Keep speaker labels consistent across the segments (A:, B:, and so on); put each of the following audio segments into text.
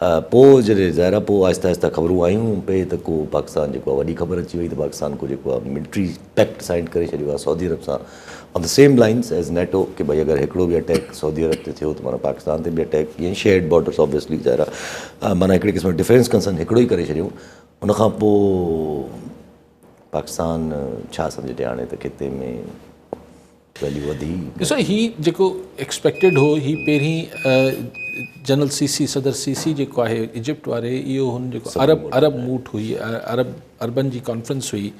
A: پوء جڏهن ظاهر آهي پوء آهستي آهستي خبرون آيون پئي ته ڪو پاڪستان جيڪو آهي وڏي خبر اچي وئي ته پاڪستان ڪو جيڪو آهي ملٽري پيڪٽ سائن ڪري ڇڏيو آهي سعودي عرب سان on the same lines as NATO ڪي ڀئي اگر هڪڙو به اٽيڪ سعودي عرب تي ٿيو ته معنيٰ پاڪستان تي به اٽيڪ ڪيئن شيئرڊ بارڊرس آبويسلي ظاهر آهي معنيٰ هڪڙي قسم ڊفينس ڪنسرن هڪڙو ئي ڪري ڇڏيون ان کان پوء پاڪستان ڇا سمجهي ٽيهاڻي ته خطي ۾ ويليو وڌي. ڏسو هي جيڪو
B: ايڪسپيڪٽيڊ هو هي پهرين جنرل سيسي صدر سيسي جيڪو آهي ايجپٽ واري اهو هن جيڪو عرب عرب موٽ هئي عرب عربن جي ڪانفرنس هئي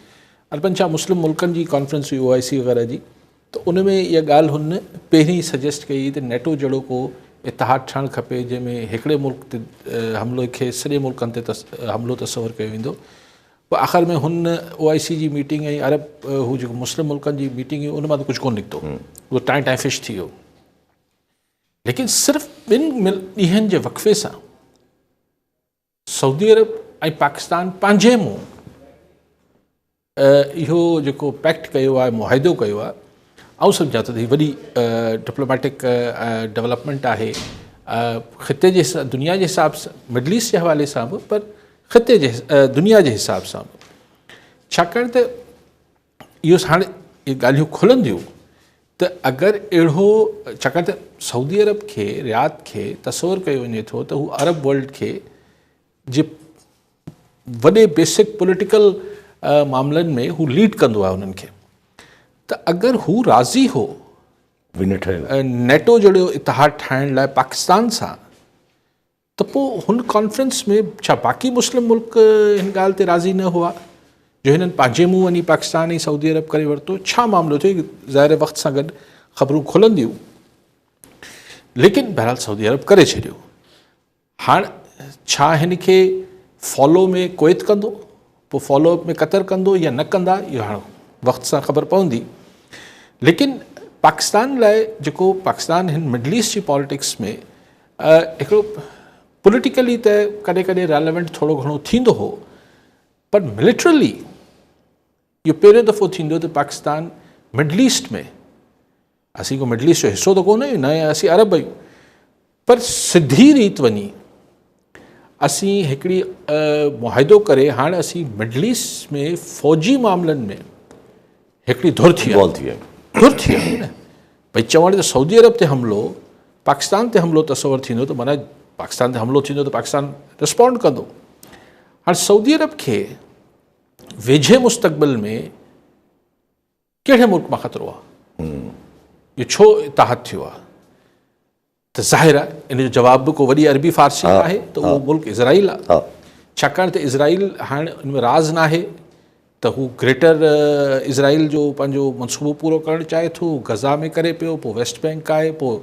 B: عربن ڇا مسلم ملڪن جي ڪانفرنس هئي او آء سي وغيره جي ته ان ۾ اها ڳالهه هن پهرين سجيسٽ ڪئي ته نيٽو جهڙو ڪو اتحاد ٺهڻ کپي جنهن ۾ هڪڙي ملڪ تي حملو کي سڄي ملڪن تي حملو تصور ڪيو ويندو پوء آخر ۾ هن او آء سي جي ميٽنگ ۽ عرب هو جيڪو مسلم ملڪن جي ميٽنگ هئي ان مان ته ڪجهه ڪونه نڪتو اهو ٽائين ٽائين فش ٿي ويو ليڪن صرف ٻن ڏينهن جي وقفي سان سعودي عرب ۽ پاڪستان پنهنجي منهن اهو جيڪو پيڪٽ ڪيو آهي معاهدو ڪيو آهي آئون سمجهان ٿو ته هي وڏي ڊپلوميٽڪ ڊيولپمنٽ آهي خطي جي دنيا جي حساب سان مڊل ايسٽ جي حوالي سان به پر خطي جي دنيا جي حساب سان به ڇاڪاڻ ته اهو هاڻي اهي ڳالهيون کلنديون ته اگر اهڙو ڇاڪاڻ ته سعودي عرب کي رياض کي تصور ڪيو وڃي ٿو ته هو عرب ورلڊ کي جي وڏي بيسڪ پوليٽيڪل معاملن ۾ هو ليڊ ڪندو آهي انهن کي ته اگر هو راضي هو نيٽو جهڙو اتحاد ٺاهڻ لاء پاڪستان سان ته پوء هن ڪانفرنس ۾ ڇا باقي مسلم ملڪ هن ڳالهه تي راضي نه هئا جو هنن پنهنجي منهن وڃي پاڪستان ۽ سعودي عرب ڪري ورتو؟ ڇا معاملو ٿيو؟ ظاهر وقت سان گڏ خبرون کلنديون ليڪن بهرحال سعودي عرب ڪري ڇڏيو. هاڻ ڇا هن کي فالو مي ڪويت ڪندو؟ پوء فالو اپ ۾ قطر ڪندو يا نه ڪندا اهو هاڻ وقت سان خبر پوندي ليڪن پاڪستان لاء جيڪو پاڪستان هن مڊل ايسٽ جي پاليٽڪس ۾ هڪڙو پوليٽيڪلي ته ڪڏهن ڪڏهن ريليونٽ ٿورو گهڻو ٿيندو هو پر ملٽرلي اهو پهريون دفعو ٿيندو ته پاڪستان مڊل ايسٽ ۾ اسين ڪو مڊل ايسٽ جو حصو ته ڪونه آهيون نه اسين عرب آهيون پر سڌي ريت وڃي اسين هڪڙي معاهدو ڪري هاڻ اسين مڊل ايسٽ ۾ فوجي معاملن ۾ هڪڙي ڌر ٿي ڌر ٿي آهي نه بھي چوڻ ته سعودي عرب تي حملو پاڪستان تي حملو تصور ٿيندو ته معنی پاڪستان تي حملو ٿيندو ته پاڪستان رسپونڊ ڪندو هاڻ سعودي عرب کي ويجهي مستقبل ۾ ڪهڙي ملڪ مان خطرو آهي؟ اهو ڇو اتحاد ٿيو آهي؟ ته ظاهر آهي ان جو جواب به ڪو وڏي عربي فارسي نه آهي ته اهو ملڪ اسرائيل آهي ڇاڪاڻ ته اسرائيل هاڻ ان ۾ راز نه آهي ته هو گريٽر اسرائيل جو پنهنجو منصوبو پورو ڪرڻ چاهي ٿو غزا ۾ ڪري پيو پوء ويسٽ بئنڪ آهي پوء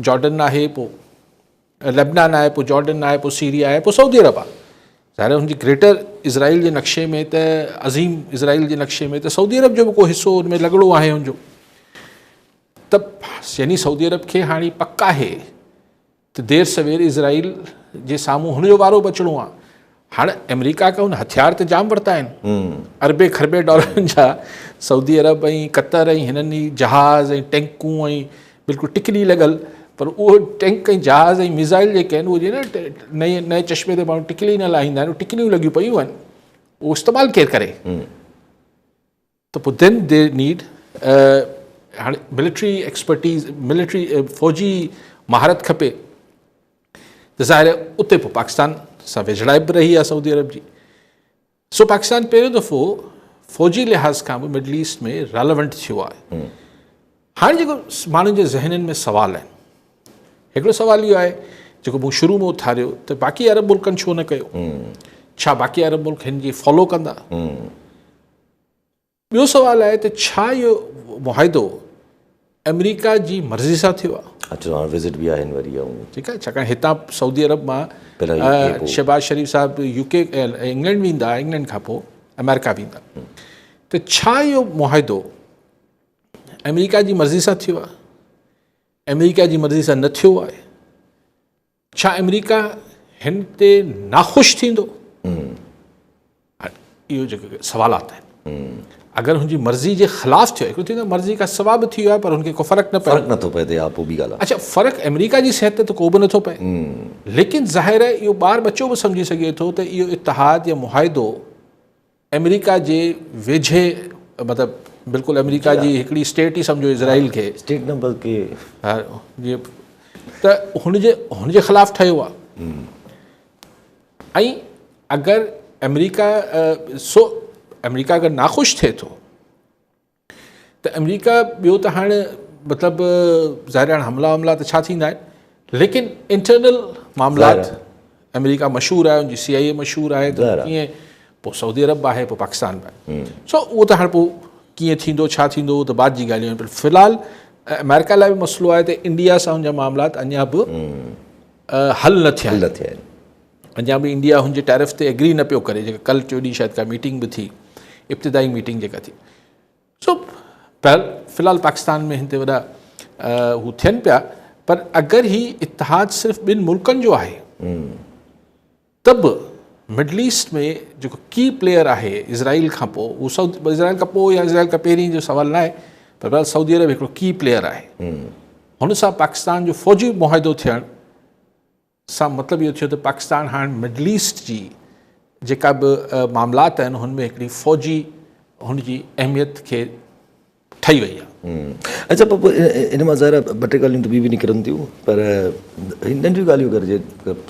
B: جارڊن آهي پوء لبنان آهي، پوء جارڊن آهي، پوء سيريا آهي، پوء سعودي عرب آهي. ظاهر هن جي گريٽر اسرائيل جي نقشي ۾ ته عظيم اسرائيل جي نقشي ۾ ته سعودي عرب جو به ڪو حصو ان ۾ لڳڙو آهي هن جو ته يعني سعودي عرب کي هاڻي پڪ آهي ته دير سوير اسرائيل جي سامهون هن جو وارو بچڻو آهي هاڻ امريڪا کي هن هٿيار ته جام ورتا آهن اربين کربين ڊالرن جا سعودي عرب ۽ قطر ۽ هنن ئي جهاز ۽ ٽينڪون ۽ بلڪل ٽڪلي لڳل پر اهو ٽينڪ ۽ جهاز ۽ ميزائل جيڪي آهن اهو جيئن نئين نئين چشمي تي ماڻهو ٽڪلي نه لاهيندا آهن ٽڪليون لڳيون پيون آهن اهو استعمال ڪير ڪري ته پوء then they need هاڻي ملٽري ايڪسپرٽيز ملٽري فوجي مهارت کپي ته ظاهر آهي اتي پوء پاڪستان سان ويجهڙائپ به رهي آهي سعودي عرب جي سو پاڪستان پهريون دفعو فوجي لحاظ کان به مڊل ايسٽ ۾ رالونٽ ٿيو آهي هاڻي جيڪو ماڻهن جي ذهنن ۾ سوال آهن هڪڙو سوال اهو آهي جيڪو مون شروع ۾ اٿاريو ته باقي عرب ملڪن ڇو نه ڪيو ڇا باقي عرب ملڪ هن جي فالو ڪندا ٻيو سوال آهي ته ڇا اهو معاهدو آمريڪا جي مرضي سان ٿيو آهي؟ اچو هاڻ وزٽ به آهن
A: وري آئون. ٺيڪ آهي ڇاڪاڻ
B: هتان سعودي عرب مان شهباز شريف صاحب يو ڪي انگلينڊ ويندا انگلينڊ کان پوء آمريڪا ويندا ته ڇا اهو معاهدو آمريڪا جي مرضي سان ٿيو آهي؟ آمريڪا جي مرضي سان نه ٿيو آهي ڇا آمريڪا هن تي ناخوش ٿيندو؟ اهو جيڪي سوالات آهن اگر هن جي مرضي جي خلاف ٿيو هڪڙو ٿيندو مرضي کا سوا به ٿيو آهي پر هن کي ڪو فرق نه فرق نٿو پئي ها پوء ٻي
A: ڳالهه آهي اڇا فرق آمريڪا جي
B: صحت تي ته ڪو به نٿو پئي ليڪن ظاهر آهي اهو ٻار ٻچو به سمجهي سگهي ٿو ته اهو اتحاد يا معاهدو امريڪا جي ويجهي مطلب بلڪل امريڪا جي هڪڙي اسٽيٽ ئي سمجهو اسرائيل کي اسٽيٽ نه بلڪه ته هن جي هن جي خلاف ٺهيو آهي ۽ اگر امريڪا سو امريڪا اگر ناخوش ٿئي ٿو ته امريڪا ٻيو ته هاڻ مطلب ظاهر هاڻ حملا وملا ته ڇا ٿيندا آهن ليڪن انٽرنل معاملات امريڪا مشهور آهي ان جي سي آئي اي مشهور آهي ته ڪيئن پوء سعودي عرب آهي پوء پاڪستان به آهي سو اهو ته هاڻ پوء ڪيئن ٿيندو ڇا ٿيندو اهو ته بعد جي ڳالهيون آهن پر في الحال امريڪا لاء به مسئلو آهي ته انڊيا سان ان جا معاملات اڃا به حل نه ٿيا آهن اڃا به انڊيا هن جي ٽيرف تي ايگري نه پيو ڪري جيڪا ڪلهه ٽيو ڏينهن شايد ڪا ميٽنگ به ٿي ابتدائي ميٽنگ جيڪا ٿي سو بهرحال في الحال پاڪستان ۾ هن تي وڏا هو ٿين پيا پر اگر هي اتحاد صرف ٻن ملڪن جو آهي ته به مڊل ايسٽ ۾ جيڪو ڪي پليئر آهي اسرائيل کان پوء هو سعود اسرائيل کان پوء يا اسرائيل کان پهرين جو سوال نه آهي پر بهرحال سعودي عرب هڪڙو ڪي پليئر آهي هن سان پاڪستان جو فوجي معاهدو ٿيڻ سان مطلب اهو ٿيو ته پاڪستان هاڻ مڊل ايسٽ جي جيڪا به معاملات آهن هن ۾ هڪڙي فوجي هن جي اهميت کي ٺهي وئي آهي اچا پوء
A: ان مان ظاهر آهي ٻه ٽي ڳالهيون ته ٻيون به نڪرن ٿيون پر هي ننڍيون ڳالهيون اگر جي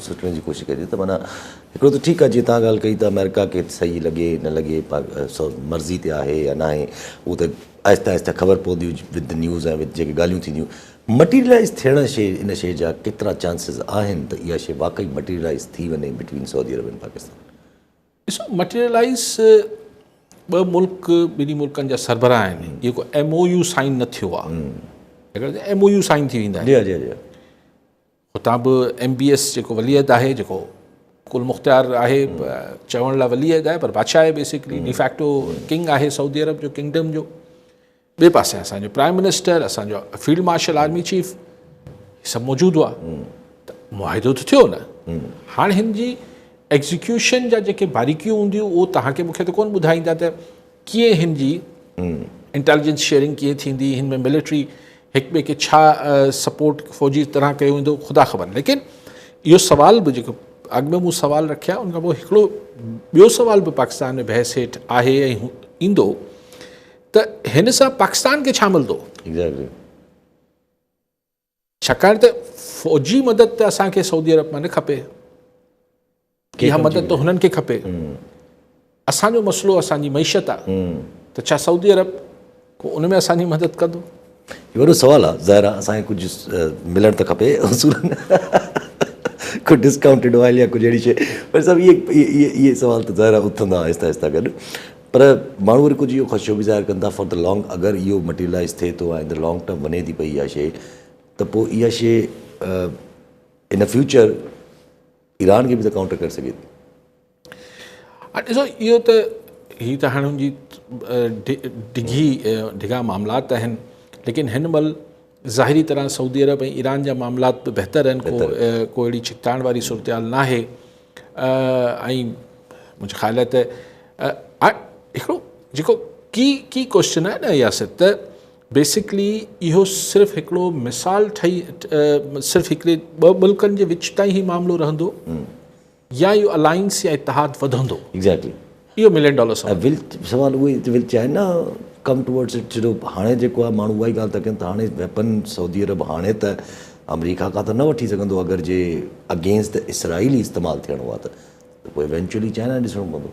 A: سوچڻ جي ڪوشش ڪجي ته معنيٰ هڪڙو ته ٺيڪ آهي جيئن تان ڳالهه ڪئي ته آمريڪا کي صحيح لڳي نه لڳي مرضي تي آهي يا ناهي هو ته آهستي آهستي خبر پوندي وٿ نيوز ۽ وٿ جيڪي ڳالهيون ٿينديون مٽيريلائيز ٿيڻ شي ان شي جا ڪيترا چانسز آهن ته اها شي واقعي مٽيريلائيز ٿي وڃي between Saudi Arab and Pakistan? ڏسو
B: مٽيريلائيز ٻه ملڪ ٻنهي ملڪن جا سربراهه آهن جيڪو ايم او يو سائن نه ٿيو آهي ايم او يو سائن ٿي ويندا آهن هتان به ايم بي ايس جيڪو ولي عهد آهي جيڪو ڪل مختيار آهي چوڻ لاء ولي عهد آهي پر بادشاهه آهي بيسڪلي ڊيفيڪٽو ڪنگ آهي سعودي عرب جو ڪنگڊم جو ٻئي پاسي اسانجو پرائم منسٽر اسانجو فيلڊ مارشل آرمي چيف هي سڀ موجود هئا ته معاهدو ته ٿيو نه هاڻ هن جي ايگزيڪيوشن جا جيڪي باريڪيون هونديون اهو تهانکي مونکي ته ڪون ٻڌائيندا ته ڪيئن هن جي انٽيليجنس شيئرنگ ڪيئن ٿيندي هن ۾ ملٽري هڪ ٻئي کي ڇا سپورٽ فوجي طرح ڪيو ويندو خدا خبر ليڪن اهو سوال به جيڪو اڳ ۾ مون سوال رکيا ان کان پوء هڪڙو ٻيو سوال به پاڪستان ۾ بحث هيٺ آهي ۽ ايندو ته هن سان پاڪستان کي ڇا ملندو ڇاڪاڻ ته فوجي مدد ته اسان کي سعودي عرب مان نه کپي اها مدد ته هنن کي کپي اسان جو مسئلو اسان جي معيشت آهي ته ڇا سعودي عرب ڪو ان ۾ اسان جي مدد ڪندو وڏو سوال
A: آهي ظاهر آهي اسان کي ڪجهه ملڻ ته کپي اصولن ڪجهه ڊسڪائونٽيڊ آئل يا ڪجهه اهڙي شيء پر صاحب اهي اهي اهي سوال ته ظاهر آهي اٿندا آهستي آهستي گڏ پر ماڻهو وري ڪجهه اهو خدشو به ظاهر ڪن ٿا فار دا لانگ اگر اهو مٽيريلائز ٿئي ٿو ۽ ان لانگ ٽرم وڃي ٿي پئي اها شي ته پوء اها شي ان فيوچر ايران کي به ته ڪائونٽر ڪري سگهي ٿي
B: ڏسو اهو ته هي ته هاڻي جي ڊگهي ڊگها معاملات آهن ليڪن هن مهل ظاهري طرح سعودي عرب ۽ ايران جا معاملات به بهتر آهن ڪو ڪو اهڙي ڇڪتاڻ واري صورتحال ناهي ۽ منهنجي خيال آهي ته هڪڙو جيڪو ڪي ڪي ڪوشچن آهي نه ياسر ته بيسڪلي اهو صرف هڪڙو مثال ٺهي صرف هڪڙي ٻه ملڪن جي وچ تائين هي معاملو رهندو يا اهو الائنس يا اتحاد وڌندو. ايگزيڪٽلي. اهو
A: ملين ڊالر
B: سوال. ول سوال اهو ئي
A: ته will China come towards it ڇو جو هاڻي جيڪو آهي ماڻهو اها ئي ڳالهه ٿا ڪن ته هاڻي ويپن سعودي عرب هاڻي ته آمريڪا کان ته نه وٺي سگهندو اگر جي اگينسٽ اسرائيل ئي استعمال ٿيڻو آهي ته پوء ايونچوئلي چائنا ڏسڻو پوندو.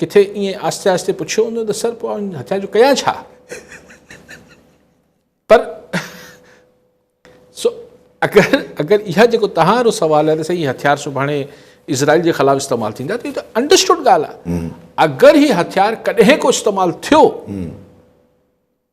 B: ڪٿي ائين آهستي آهستي پڇيو هوندو ته سر پوء آئون هتان جو ڪيان ڇا؟ پر سو اگر اگر اها جيڪو توهان رو سوال آهي ته سائين هي هٿيار سڀاڻي اسرائيل جي خلاف استعمال ٿيندا ته هي ته انڊرسٽوڊ ڳالهه آهي اگر هي هٿيار ڪڏهن ڪو استعمال ٿيو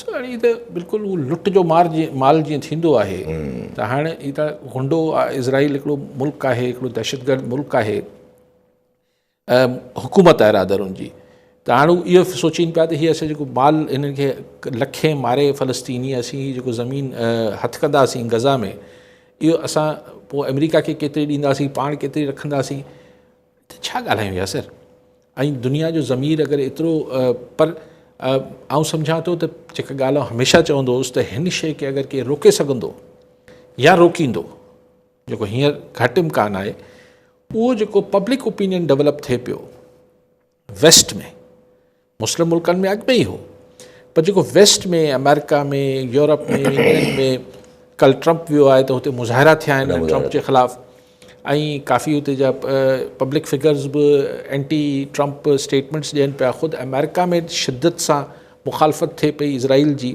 A: سائين
B: هي ته بلڪل هو لٽ جو مار جيئن مال جيئن ٿيندو آهي ته هاڻ هي ته غنڊو اسرائيل هڪڙو ملڪ آهي هڪڙو دهشتگرد ملڪ آهي حڪومت آهي رادر ان جي ته هاڻ هو اهو سوچين پيا ته هي اسان جيڪو مال هنن کي لکي ماري فلسطيني اسين هي جيڪو زمين هٿ ڪنداسين غزا ۾ اهو اسان پوء آمريڪا کي ڪيتري ڏينداسين پاڻ ڪيتري رکنداسين ته ڇا ڳالهايون ياسر؟ ۽ دنيا جو ضمير اگر ايترو پر آئون سمجهان ٿو ته جيڪا ڳالهه آئون هميشه چوندو هوس ته هن شيء کي اگر ڪير روڪي سگهندو يا روڪيندو جيڪو هينئر گهٽ امڪان آهي اهو جيڪو پبلڪ اوپينين ڊولپ ٿئي پيو ويسٽ ۾ مسلم ملڪن ۾ اڳ ۾ ئي هو پر جيڪو ويسٽ ۾ آمريڪا ۾ يورپ ۾ انگلينڊ ۾ ڪل ٽرمپ ويو آهي ته هتي مظاهرا ٿيا آهن ٽرمپ جي خلاف ۽ ڪافي هتي جا پبلڪ فگرز به اينٽي ٽرمپ اسٽيٽمنٹس ڏين پيا خود آمريڪا ۾ شدت سان مخالفت ٿئي پئي اسرائيل جي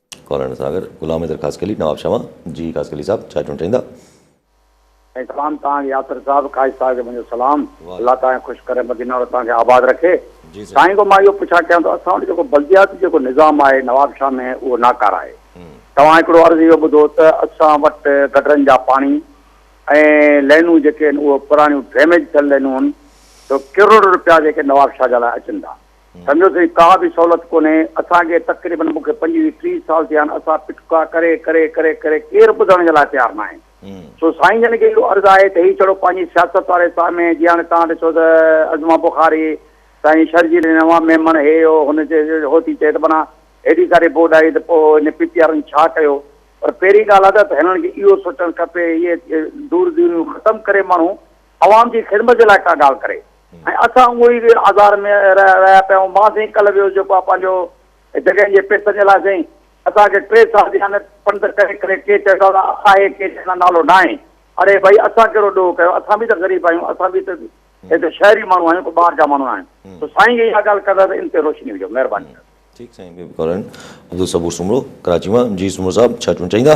B: ڪالهاڻي
A: ساگر، غلام حيدر خاصخيلي، نواب شمع، جي خاصخيلي صاحب چاء چونڊ ٺهيندا. ۽
C: سلام تان ياسر صاحب خاص صاحب کي منهنجو سلام الله تان خوش ڪري مدينه ورت تان کي آباد رکي سائين گو مان اهو پڇا ڪيان ٿو اسان وٽ جيڪو بلدياتي جيڪو نظام آهي نواب شاهه ۾ اهو ناڪاره آهي توهان هڪڙو عرض اهو ٻڌو ته اسان وٽ گٽرن جا پاڻي ۽ لينون جيڪي آهن اهو پراڻيون ڊيميج ٿيل لينون آهن ته ڪروڙ روپيا جيڪي نواب شاهه جا لاء اچن ٿا سمجهو سائين ڪا به سهولت ڪونهي اسان کي تقريبن مون کي پنجويهه ٽيهه سال ٿيا آهن اسان پٽڪا ڪري ڪري ڪري ڪري ڪير ٻڌڻ جي لاء تيار ناهي سو سائين جن کي اهو عرض آهي ته هي ڇڙو پنهنجي سياست واري ساهه ۾ جي هاڻي تان ڏسو ته عظمه بخاري سائين شرجيل نوان ميمڻ هي هو هن هو ٿي چئي ته منا هيڏي ساري بوڊ آئي ته پوء هن پي پي آرن ڇا ڪيو پر پهرين ڳالهه ادا ته هنن کي اهو سوچڻ کپي اهي دور دوريون ختم ڪري ماڻهو عوام جي خدمت جي لاء ڪا ڳالهه ڪري ۽ اسان اهو ئي آزار ۾ رهيا پيا آهيون. مان سائين ڪلهه ويو هوس جيڪو آء پنهنجو جڳهين جي پئسن جي لاء سائين اسان کي ٽي سال جي اهانت پنڌ ڪري ڪري ڪي چئي ٿا ته آهي ڪي چئي ٿا نالو ناهي. اڙي ڀائي اسان ڪهڙو ڏوهه ڪيو اسان به ته غريب آهيون اسان به ته هتي شهري ماڻهو آهيون ڪو ٻاهر جا ماڻهو ناهيون. سو سائين جي اها ڳالهه ڪندا ته ان تي روشني وجهو مهرباني ڪري. ٺيڪ سائين بيبي
A: ڪالوني عبدالصبور سومرو ڪراچي مان جي سومرو صاحب ڇا چوڻ چاهيندا.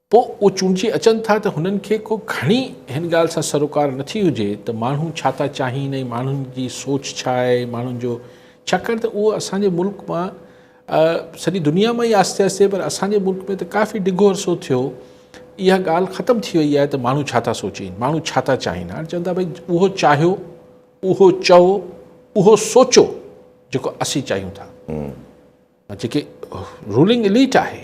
B: پوء اهي چونڊجي اچن ٿا ته هنن کي ڪو گهڻي هن ڳالهه سان سروڪار نه ٿي هجي ته ماڻهو ڇا ٿا چاهين ۽ ماڻهن جي سوچ ڇا آهي ماڻهن جو ڇاڪاڻ ته اهو اسان جي ملڪ مان سڄي دنيا مان ئي آهستي آهستي پر اسان جي ملڪ ۾ ته ڪافي ڊگهو عرصو ٿيو اها ڳالهه ختم ٿي وئي آهي ته ماڻهو ڇا ٿا سوچين ماڻهو ڇا ٿا چاهين هاڻي چون ٿا ڀائی اهو چاهيو اهو چئو اهو سوچو جيڪو اسين چاهيون ٿا جيڪي رولنگ اليٽ آهي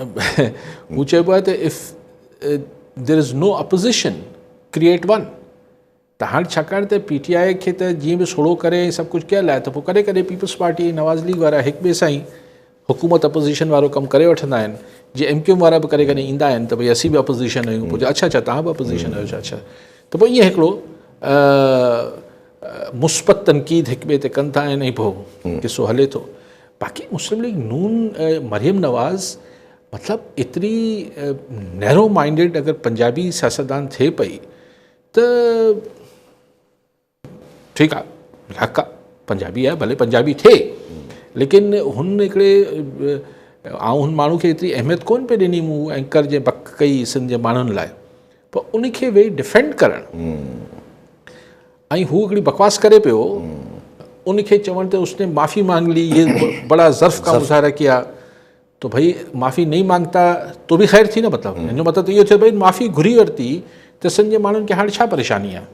B: هو چئبو آهي ته if there is no opposition create one ته هاڻي ڇاڪاڻ ته پي ٽي آء کي ته جيئن به سوڙهو ڪري ۽ سڀ ڪجهه ڪيل آهي ته پوء ڪڏهن ڪڏهن پيپلز پارٽي ۽ نواز ليگ وارا هڪ ٻئي سان ئي حڪومت اپوزيشن وارو ڪم ڪري وٺندا آهن جي ايم ڪيو ايم وارا به ڪڏهن ڪڏهن ايندا آهن ته ڀئي اسين به اپوزيشن آهيون پوء اڇا اڇا توهان به اپوزيشن آهيو اڇا ته پوء ائين هڪڙو مثبت تنقيد هڪ ٻئي تي ڪن ٿا ۽ پوء قصو هلي ٿو باقي مسلم ليگ نون مريم نواز مطلب ايتري نيرو مائنڊيڊ اگر پنجابي سياستدان ٿئي پئي ته ٺيڪ آهي حق آهي پنجابي آهي ڀلي پنجابي ٿئي ليڪن هن هڪڙي آئون هن ماڻهو کي ايتري اهميت ڪون پئي ڏني مون اينڪر جي بڪ ڪئي سنڌ جي ماڻهن لاء پر ان کي ويهي ڊفينڊ ڪرڻ ۽ هو هڪڙي بڪواس ڪري پيو ان کي چوڻ ته اس ني معافي مانگ لي هي بڙا ظرف ڪا مظاهره ڪيا تو ڀئي معافي نئي مانگتا تو به خير ٿي نه مطلب هن جو مطلب ته اهو ٿيو ڀئي معافي گهري ورتي ته سنڌ جي ماڻهن کي هاڻي ڇا پريشاني آهي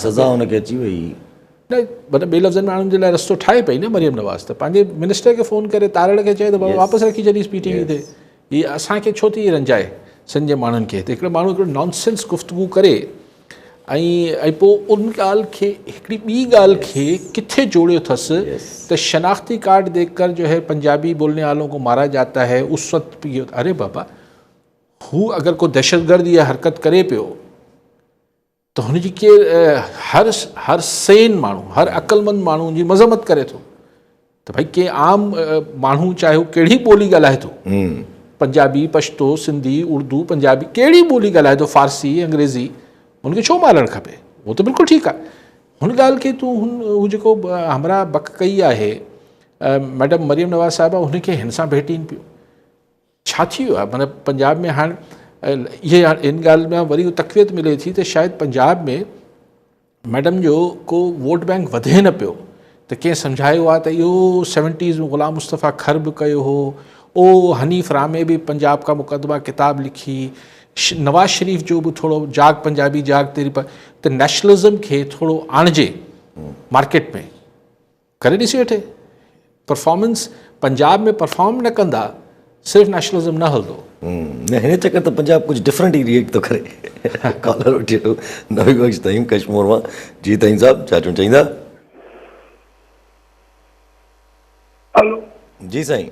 A: سزا ان کي اچي وئي. نه مطلب
B: ٻي لفظن ۾ آڻن جي لاء رستو ٺاهي پئي نه مريم نواز ته پنهنجي منسٽر کي فون ڪري تارڙ کي چئي ته بابا واپس رکي ڇڏيس پي ٽي وي تي هي اسان کي ڇو ٿي رنجائي سنڌ جي ماڻهن کي ته هڪڙو ماڻهو هڪڙو نان سينس گفتگو ڪري ۽ پوء ان ڳالهه کي هڪڙي ٻي ڳالهه کي ڪٿي جوڙيو اٿس ته شناختي ڪارڊ ديک ڪر جو هي پنجابي بولني والو ڪو مارا جاتا هي اس وقت اري بابا هو اگر ڪو دهشتگرد يا حرڪت ڪري پيو ته هن جي ڪير هر هر سين ماڻهو هر عقلمند ماڻهو جي مذمت ڪري ٿو ته ڀائی ڪي عام ماڻهو چاهي هو ڪهڙي ٻولي ڳالهائي ٿو پنجابي پشتو سنڌي اردو پنجابي ڪهڙي ٻولي ڳالهائي ٿو فارسي انگريزي هن کي ڇو مارڻ کپي اهو ته بلڪل ٺيڪ آهي هن ڳالهه کي تون هن هو جيڪو همراهه بک ڪئي آهي ميڊم مريم نواز صاحبه هن کي هن سان ڀيٽين پيو ڇا ٿي ويو آهي معنيٰ پنجاب ۾ هاڻ اهي ان ڳالهه ۾ وري تقويت ملي ٿي ته شايد پنجاب ۾ ميڊم جو ڪو ووٽ بينڪ وڌي نه پيو ته ڪنهن سمجهايو آهي ته اهو سيونٽيز ۾ غلام مصطفيٰ کر به ڪيو هو او حنيف رامي به پنجاب کا مقدمه ڪتاب لکي نواز شريف جو به ٿورو جاگ پنجابي جاگ تيري ته نيشنلزم کي ٿورو آڻجي مارڪيٽ ۾ ڪري ڏسي وٺي پرفارمنس پنجاب ۾ پرفارم نه ڪندا صرف نيشنلزم نه هلندو نه هن چڪر
A: ته پنجاب ڪجهه ڊفرنٽ ئي ريئيڪٽ ٿو ڪري ڪالر وٺي وٺو نوي بخش تائين ڪشمور مان جي تائين صاحب ڇا چون چائيندا هلو
D: جي
A: سائين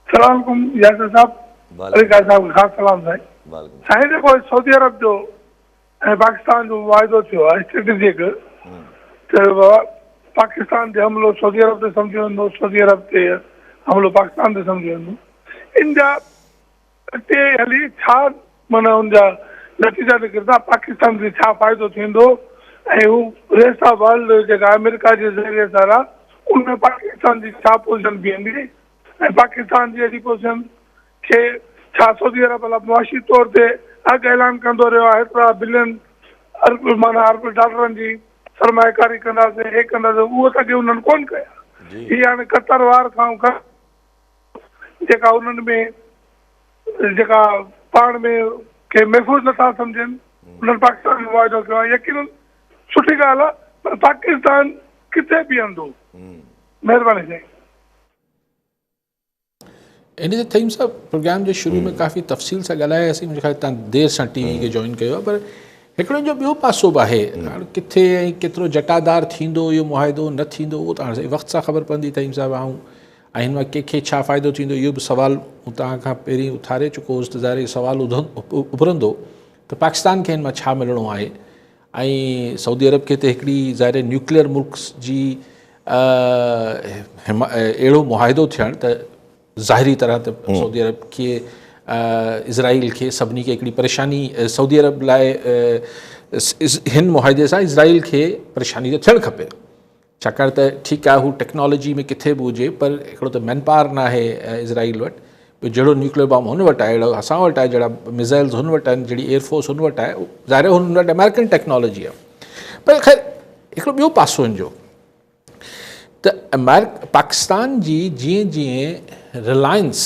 D: سلام علیڪم ياسر صاحب علي خان صاحب خاص سلام سائين سائين جيڪو سعودي عرب جو ۽ پاڪستان جو معاهدو ٿيو آهي اسٽريٽجڪ ته پاڪستان تي حملو سعودي عرب تي سمجهيو ويندو سعودي عرب تي حملو پاڪستان تي سمجهيو ويندو ان جا اڳتي هلي ڇا مانا ان جا نتيجا نڪرندا پاڪستان کي ڇا فائدو ٿيندو ۽ هو ريسٽ آف ورلڊ جيڪا آمريڪا جي ذريعي سارا ان ۾ پاڪستان جي ڇا پوزيشن بيهندي ۽ پاڪستان جي اهڙي پوزيشن کي ڇا سعودي عرب الا معاشي طور تي اڳ اعلان ڪندو رهيو آهي هيترا بلين ارب معنيٰ ارب ڊالرن جي سرمايه ڪاري ڪنداسين هي ڪنداسين اهو ته اڳي انهن ڪون ڪيا هي هاڻي قطر وار کان جيڪا انهن ۾ جيڪا پاڻ ۾ کي محفوظ نٿا سمجهن انهن پاڪستان جو معاهدو ڪيو آهي يقينن سٺي ڳالهه آهي پر پاڪستان ڪٿي بيهندو مهرباني سائين
B: ان جي تھيم صاحب پروگرام جي شروع ۾ ڪافي تفصيل سان ڳالھاياسين مون کي تان دير سان ٽي وي کي جوائن ڪيو پر هڪڙو ان جو ٻيو پاسو به آهي ڪٿي ۽ ڪيترو جٽادار ٿيندو اهو معاهدو نه ٿيندو اهو تان وقت سان خبر پوندي تھيم صاحب آئون ۽ هن مان ڪنهن کي ڇا فائدو ٿيندو اهو به سوال مون تان کان پهرين اٿاري چڪو هوس ته ظاهر سوال اڀرندو ته پاڪستان کي هن مان ڇا ملڻو آهي ۽ سعودي عرب کي ته هڪڙي ظاهر نيوڪليئر ملڪ جي اهڙو معاهدو ٿيڻ ته ظاهري طرح ته سعودي عرب کي اسرائيل کي سڀني کي هڪڙي پريشاني سعودي عرب لاء هن معاهدي سان اسرائيل کي پريشاني ته ٿيڻ کپي ڇاڪاڻ ته ٺيڪ آهي هو ٽيڪنالاجي ۾ ڪٿي به هجي پر هڪڙو ته مين پاور ناهي اسرائيل وٽ ٻيو جهڙو نيوڪليئر بام هن وٽ آهي اهڙو اسان وٽ آهي جهڙا ميزائلز هن وٽ آهن جهڙي ايئر فورس هن وٽ آهي ظاهر آهي هن وٽ امريڪن ٽيڪنالاجي آهي پر خير هڪڙو ٻيو پاسو هن جو ته امريڪ پاڪستان جي جيئن جيئن رلائنس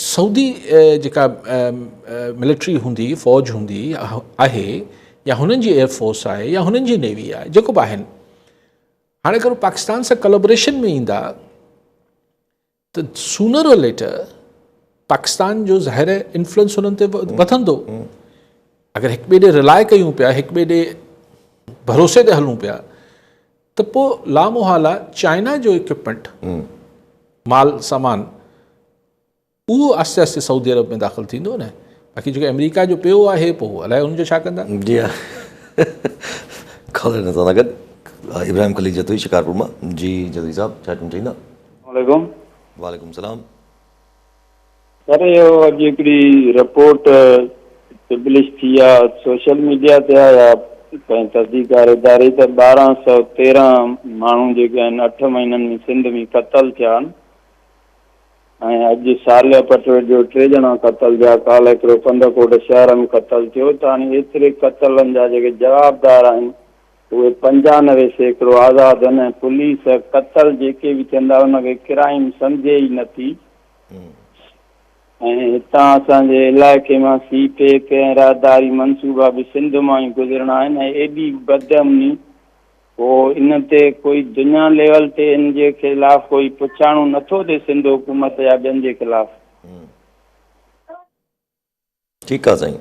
B: سعودي جيڪا ملٽري هوندي، فوج هوندي آهي يا هنن جي ايئر فورس آهي يا هنن جي نيوي آهي جيڪو به آهن هاڻي اگر هو پاڪستان سان ڪلابريشن ۾ ايندا ته سونر اور ليٽر پاڪستان جو ظاهر انفلوئنس هنن تي وڌندو اگر هڪ ٻئي ڏي رلاء ڪيون پيا هڪ ٻئي ڏي ڀروسي تي هلون پيا ته پوء لامحاله چائنا جو اڪوپمينٽ مال سامان اهو آهستي آهستي سعودي عرب ۾ داخل ٿيندو نه باقي جيڪو آمريڪا جو پيو آهي پوء الائي ان جو ڇا ڪندا جي ها
A: خبر نه سان گڏ ابراهيم خليل جتوئي شڪارپور مان جي جتوئي صاحب ڇا چوڻ چاهيندا السلام عليڪم
C: وعليڪم السلام پر اهو اڄ هڪڙي رپورٽ پبلش ٿي آ سوشل ميڊيا تي آ يا ڪنهن تحقيقڪار اداري ته ٻارهن سؤ تيرهن ماڻهو جيڪي آهن اٺ مهينن ۾ سنڌ ۾ قتل ٿيا آهن ۽ اڄ صالح پٽڙ جو ٽي ڄڻا قتل ٿيا ڪالهه هڪڙو ڪنڌڪوٽ شهر ۾ قتل ٿيو ته هاڻي ايتري قتلن جا جيڪي جوابدار آهن اهي پنجانوي سيڪڙو آزاد آهن ۽ پوليس قتل جيڪي به ٿين ٿا ان کي ڪرائيم سمجهي ئي نه ٿي ۽ هتان اسان جي علائقي مان سي پيڪ ۽ راهداري منصوبا به سنڌ مان ئي گذرڻا آهن ۽ ايڏي بدامني پوء ان تي ڪوئي دنيا ليول تي ان جي خلاف ڪوئي پڇاڻو نه ٿو ٿئي سنڌ حڪومت يا ٻين جي خلاف.
A: ٺيڪ آ سائين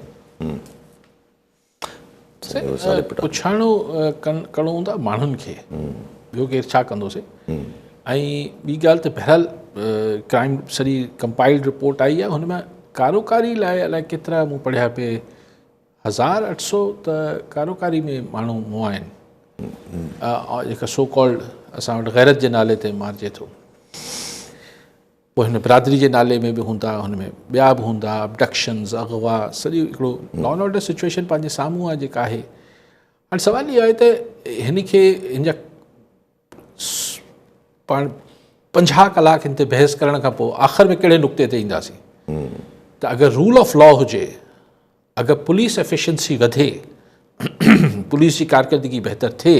B: پڇاڻو ڪرڻو هوندو آهي ماڻهن کي ٻيو ڪير ڇا ڪندو سي ۽ ٻي ڳالهه ته بهرحال ڪرائم سڄي ڪمپائلڊ رپورٽ آئي آهي هن ۾ ڪاروڪاري لاء الائي ڪيترا مون پڙهيا پي هزار اٺ سو ته ڪاروڪاري ۾ ماڻهو مون آهن جيڪا سو ڪالڊ اسان وٽ غيرت جي نالي تي مارجي ٿو پوء هن برادري جي نالي ۾ به هوندا هن ۾ ٻيا به هوندا ابڊڪشنز اغوا سڄي هڪڙو لا ان آرڊر سچويشن پنهنجي سامهون آهي جيڪا آهي هاڻي سوال اهو آهي ته هن کي هن جا پاڻ پنجاهه ڪلاڪ هن تي بحث ڪرڻ کان پوء آخر ۾ ڪهڙي نقطي تي اينداسين ته اگر رول آف لا هجي اگر پوليس افيشنسي وڌي پوليس جي ڪارڪردگي بهتر ٿئي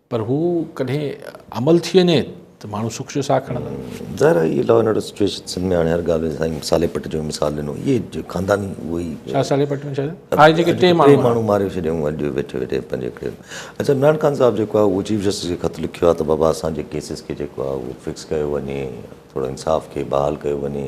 B: پر هو ڪڏهن عمل ٿي وڃي ته ماڻهو سک جو ساهه کڻندا. ظاهر آهي اهي law and
A: order situation Sindh ۾ هاڻي هر ڳالهه ۾ سائين صالح پٽ جو مثال ڏنو اهي جو خانداني اهي ئي شاهه صالح پٽ ۾ ڇا
B: ٿيو آهي جيڪي ٽي ماڻهو ٽي ماڻهو ماري ڇڏيائون اڄ
A: ويٺي ويٺي پنهنجي ڪري اچا عمران خان صاحب جيڪو آهي اهو چيف جسٽس کي خط لکيو آهي ته بابا اسان جي ڪيسز کي جيڪو آهي اهو فڪس ڪيو وڃي ٿورو انصاف کي بحال ڪيو وڃي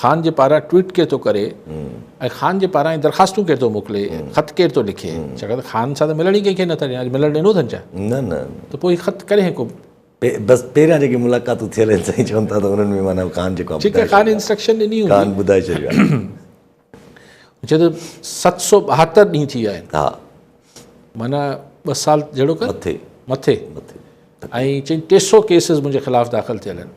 B: خان جي پاران ٽوئيٽ ڪير ٿو ڪري ۽ خان جي پاران درخواستون ڪير ٿو موڪلي خط ڪير ٿو لکي ڇاڪاڻ ته خان سان ته ملڻ ئي ڪنهن کي نه ٿا ڏين اڄ ملڻ ڏنو اٿن ڇا نه نه ته پوء هي
A: خط ڪڏهن
B: ڪو بس پهريان
A: جيڪي ملاقاتون ٿيل آهن سائين چون ٿا ته انهن ۾ معنيٰ خان جيڪو آهي ٺيڪ آهي خان انسٽرڪشن
B: ڏني هوندي خان ٻڌائي ڇڏيو
A: آهي
B: چئي ته ست سؤ ٻاهتر ڏينهن ٿي ويا آهن ها
A: معنيٰ
B: ٻه سال جهڙو ڪر مٿي مٿي
A: مٿي ۽ چئي
B: ٽي سؤ ڪيسز منهنجي خلاف داخل ٿيل آهن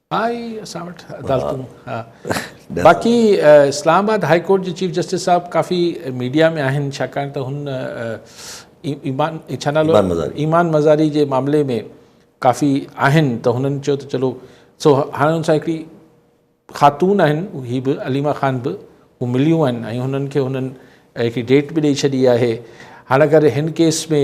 A: ها اي
B: اسان وٽ عدالتون ها باقي اسلام آباد هاء ڪورٽ جي چيف جسٽس صاحب ڪافي ميڊيا ۾ آهن ڇاڪاڻ ته هن ايمان ڇا نالو ايمان مزاري جي معاملي ۾ ڪافي آهن ته هنن چيو ته چلو سو هاڻي هن سان هڪڙي خاتون آهن هي به عليما خان به هو مليون آهن ۽ هنن کي هنن هڪڙي ڊيٽ به ڏيئي ڇڏي آهي هاڻي اگر هن ڪيس ۾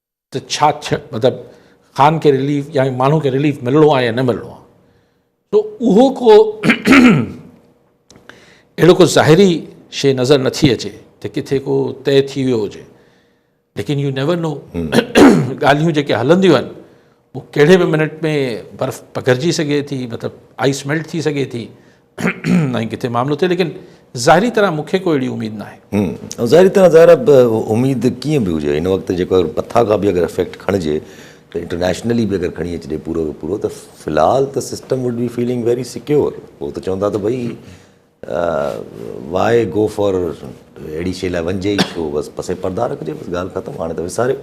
B: ته ڇا مطلب خان کي رليف يا ماڻهو کي رليف ملڻو آهي يا نه ملڻو آهي تو اهو ڪو اهڙو ڪو ظاهري شي نظر نٿي اچي ته ڪٿي ڪو طئي ٿي ويو هجي ليڪن يو نيور نو ڳالهيون جيڪي هلنديون آهن هو ڪهڙي به منٽ ۾ برف پگهرجي سگهي ٿي مطلب آئيس ميلٽ ٿي سگهي ٿي ۽ ڪٿي معاملو ٿئي ليڪن ظاهري طرح مون کي ڪو اهڙي اميد ناهي ۽ ظاهري طرح ظاهر
A: آهي اميد ڪيئن به هجي هن وقت جيڪو مٿا کان به اگر افيڪٽ کڻجي ته انٽرنيشنلي به اگر کڻي اچجي پورو جو پورو ته في الحال ته system would be feeling very secure هو ته چوندا ته ڀئي واء گو فار اهڙي شي لاء وڃجي ئي ڇو بس پسي پردا رکجي بس ڳالهه ختم هاڻي ته وساريو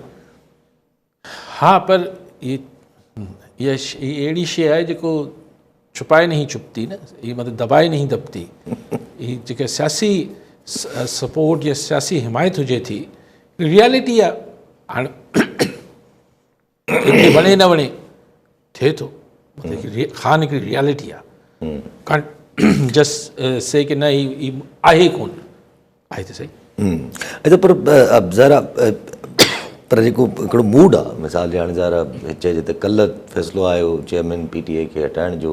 B: ها پر هي هي اهڙي شيء آهي جيڪو ڇپائي نهين ڇپتي نه هي مطلب دٻائي نهين دٻتي هي جيڪا سياسي سپورٽ يا سياسي حمايت هجي ٿي ريالٽي آهي هاڻي کي وڻي نه وڻي ٿئي ٿو خان هڪڙي ريالٽي آ ڪان جس سي ڪي نه هي آهي ڪون آهي ته سهي اچا
A: پر ذرا پر جيڪو هڪڙو موڊ آ مثال جي هاڻي ذرا چئجي ته ڪلهه فيصلو آيو چيئرمين پي ٽي آء کي هٽائڻ جو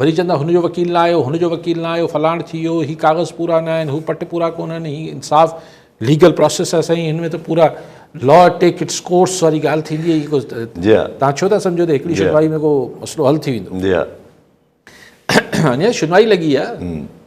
B: وري چون ٿا هن جو وڪيل نه آيو هن جو وڪيل نه آيو فلاڻ ٿي ويو هي ڪاغذ پورا نه آهن هو پٽ پورا ڪونهن هي انصاف ليگل پروسيس آهي سائين هن ۾ ته پورا لا ٽيڪ اٽس ڪورس واري ڳالهه ٿيندي آهي ڪو تان ڇو ٿا سمجهو ته هڪڙي شنوائي ۾ ڪو مسئلو حل ٿي ويندو اڃا شنوائي لڳي آهي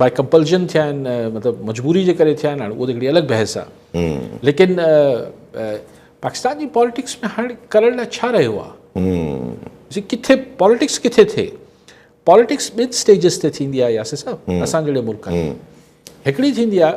B: باء ڪمپلشن ٿيا آهن مطلب مجبوري جي ڪري ٿيا آهن هاڻي اهو ته هڪڙي الڳ بحث آهي ليڪن پاڪستان جي پاليٽڪس ۾ هاڻي ڪرڻ لاء ڇا رهيو آهي ڪٿي پاليٽڪس ڪٿي ٿئي پاليٽڪس ٻن اسٽيجز تي ٿيندي آهي ياسر صاحب اسان جهڙي ملڪ ۾ هڪڙي ٿيندي آهي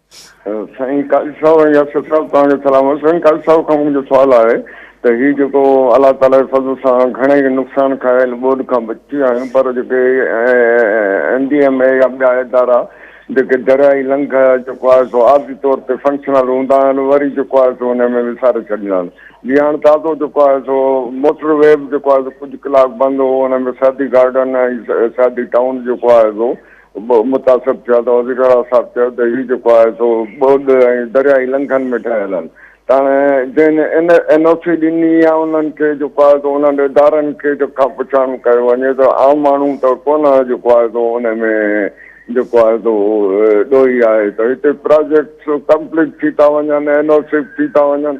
E: سائين قاضي صاحب ۽ ياسر صاحب توهان کي سلام آهي سائين قاضي صاحب کان منهنجو سوال آهي ته هي جيڪو الله تعالي جي فضل سان گهڻي نقصان کايل ٻوڏ کان بچي ويا آهيون پر جيڪي ايم ڊي ايم اي يا ٻيا ادارا جيڪي دريائي لنگهه جيڪو آهي سو عارضي طور تي فنڪشنل هوندا آهن وري جيڪو آهي سو ان ۾ وساري ڇڏيندا آهن جي هاڻ تازو جيڪو آهي سو موٽر وي به جيڪو آهي سو ڪجهه ڪلاڪ بند هو ان ۾ سعدي گارڊن ۽ سعدي ٽائون جيڪو آهي سو متاثر ٿيا ته وزير اعليٰ صاحب چيو ته هي جيڪو آهي سو ٻوڏ ۽ درياهي لنگهن ۾ ٺهيل آهن تاڻي جن ان اين او سي ڏني يا انهن کي جيڪو آهي سو انهن ادارن کي جيڪو کان پڇاڻو ڪيو وڃي ته عام ماڻهو ته ڪونه جيڪو آهي سو ان ۾ جيڪو آهي سو ڏوهي آهي ته هتي پراجيڪٽس ڪمپليٽ ٿي ٿا وڃن اين او سي ٿي ٿا وڃن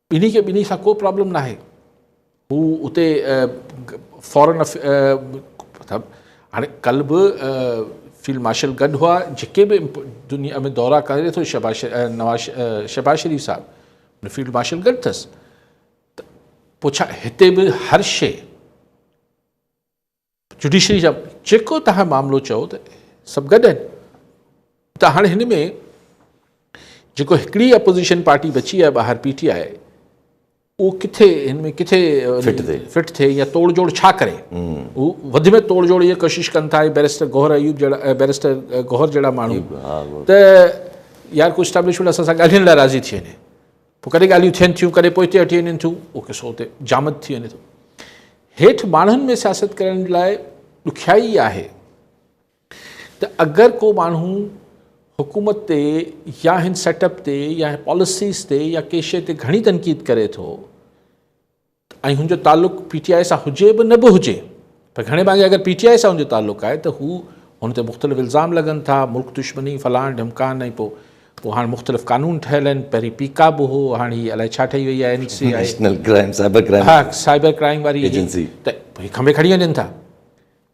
B: ٻنهي کي ٻنهي سان ڪو پرابلم ناهي هو اتي فارن هاڻي ڪل به فيلڊ مارشل گڏ هئا جيڪي به دنيا ۾ دورا ڪري ٿو شهباز نواز شهباز شريف صاحب ان فيلڊ مارشل گڏ اٿس پوء ڇا هتي به هر شي جوڊيشري جا جيڪو تهان معاملو چئو ته سڀ گڏ آهن ته هاڻي هن ۾ جيڪو هڪڙي اپوزيشن پارٽي بچي آهي ٻاهر پي ٽي آئي اهو ڪٿي هن ۾ ڪٿي فٽ ٿئي يا توڙ جوڙ ڇا ڪري هو وڌ ۾ توڙ جوڙ جي ڪوشش ڪن ٿا بيرسٽر گوهر ايوب جهڙا بيرسٽر گوهر جهڙا ماڻهو ته يار ڪو اسٽيبلشمنٽ اسان سان ڳالهائڻ لاء راضي ٿي وڃي پوء ڪڏهن ڳالهيون ٿين ٿيون، ڪڏهن پوئتي هٽي وڃن ٿيون، اهو قصو اتي جامد ٿي وڃي ٿو. هيٺ ماڻهن ۾ سياست ڪرڻ لاء ڏکيائي اها آهي ته اگر ڪو ماڻهو حڪومت تي يا هن سيٽ اپ تي يا پاليسيز تي يا ڪي شيء تي گهڻي تنقيد ڪري ٿو، ۽ هن جو تعلق پي ٽي آء سان هجي به نه به هجي پر گهڻي ڀاڱي اگر پي ٽي آء سان هن جو تعلق آهي ته هو هن تي مختلف الزام لڳن ٿا ملڪ دشمني فلان ڍمڪان ۽ پوء پوء هاڻ مختلف قانون ٺهيل آهن پهرين پيڪا به هو هاڻ هي الائي ڇا ٺهي وئي آهي N C I national crime
A: cyber crime ها سائبر
B: ڪرائم واري ايجنسي ته هي کنڀي کڻي وڃن ٿا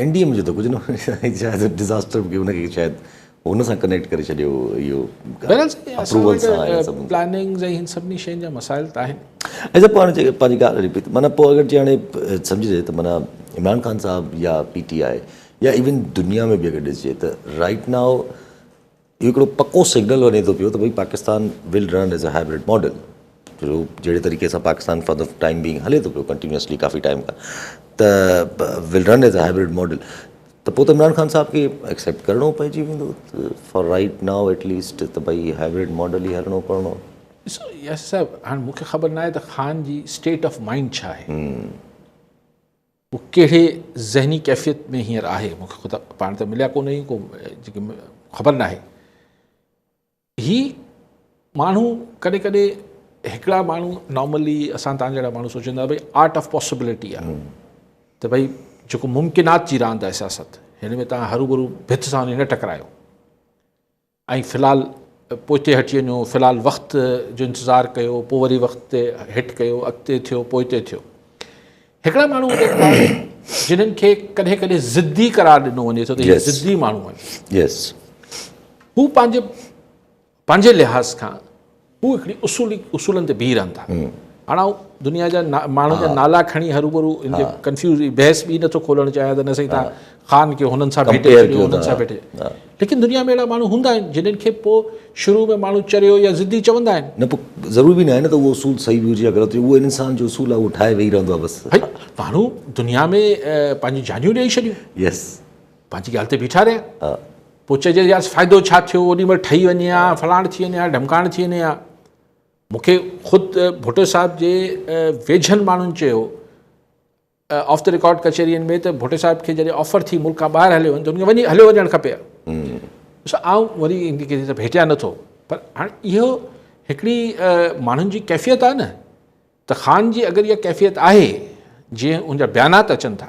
A: اين ڊي ايم جو ته ڪجهه نه هو شايد ڊزاسٽر به ان کي شايد هن سان ڪنيڪٽ ڪري ڇڏيو اهو بهرحال سائين اسان وٽ پلاننگز
B: ۽ هن سڀني شين جا مسائل ته آهن. ايسا پاڻ جي
A: پنهنجي ڳالهه هلي پئي ته معنيٰ پوء اگر جي هاڻي سمجهجي ته معنيٰ عمران خان صاحب يا پي ٽي آء يا ايون دنيا ۾ به اگر ڏسجي ته رائٽ نائو اهو هڪڙو پڪو سگنل وڃي ٿو پيو ته ڀئي Pakistan will run as a hybrid model جو جهڙي طريقي سان Pakistan for the time being هلي ٿو پيو ڪنٽينيوسلي ڪافي ٽائيم کان ته will run as a hybrid model ته پوء ته عمران خان صاحب کي ايڪسيپٽ ڪرڻو پئجي ويندو for right now at least ته ڀئي هائبرڊ ماڊل ئي هلڻو ڪرڻو ڏسو ياسر
B: صاحب هاڻي مون کي خبر ناهي ته خان جي اسٽيٽ آف مائنڊ ڇا آهي هو ڪهڙي ذهني ڪيفيت ۾ هينئر آهي مون کي خود پاڻ ته مليا ڪونه هي ڪو جيڪي خبر ناهي هي ماڻهو ڪڏهن ڪڏهن هڪڙا ماڻهو نارملي اسان تان جهڙا ماڻهو سوچيندا ڀائی آرٽ آف پاسبلٽي آهي ته ڀائی جيڪو ممڪنات جي راند آهي سياست هن ۾ تان هرو برو ڀت سان نه ٽڪرايو ۽ في الحال پوئتي هٽجي وڃو، في الحال وقت جو انتظار ڪيو، پوء وري وقت تي هٽ ڪيو، اڳتي ٿيو، پوئتي ٿيو. هڪڙا ماڻهو هوندي ٿا جنهن کي ڪڏهن ڪڏهن ضدي قرار ڏنو وڃي ٿو ته هي ضدي ماڻهو آهن. هو پنهنجي پنهنجي لحاظ کان هو هڪڙي اصولي اصولن تي بيهي رهن ٿا هاڻ آئون دنيا جا ماڻهن جا نالا کڻي هروبرو ان جي ڪنفيوز بحث به نٿو کولڻ چاهيان ته نه سائين تان خان کي هنن سان ڀيٽي ڇڏيو هنن سان ڀيٽي ليڪن دنيا ۾ اهڙا ماڻهو هوندا آهن جنن کي پوء شروع ۾ ماڻهو چريو يا ضدي چوندا آهن نه پوء ضرور به نه آهي
A: نه ته اهو اصول صحيح به هجي يا غلط هجي اهو انسان جو اصول آهي اهو ٺاهي ويهي رهندو آهي بس ماڻهو
B: دنيا ۾ پنهنجي جانيون ڏيئي ڇڏيون يس پنهنجي ڳالهه تي بيٺا رهيا ها پوء چئجي يار فائدو ڇا ٿيو اوڏي مهل ٺهي وڃي ها فلاڻ ٿي وڃي ها ڍمڪاڻ ٿي وڃي ها مونکي خود ڀٽو صاحب جي ويجهن ماڻهن چيو آف ته رڪارڊ ڪچهرين ۾ ته ڀٽو صاحب کي جڏهن آفر ٿي ملڪ کان ٻاهر هليو وڃ ته هن کي هليو وڃڻ کپي ها آئون وري ڪنهن سان ڀيٽيا نه ٿو پر هاڻي اهو هڪڙي ماڻهن جي ڪيفيت آهي نه ته خان جي اگر اها ڪيفيت آهي جيئن ان جا بيانات اچن ٿا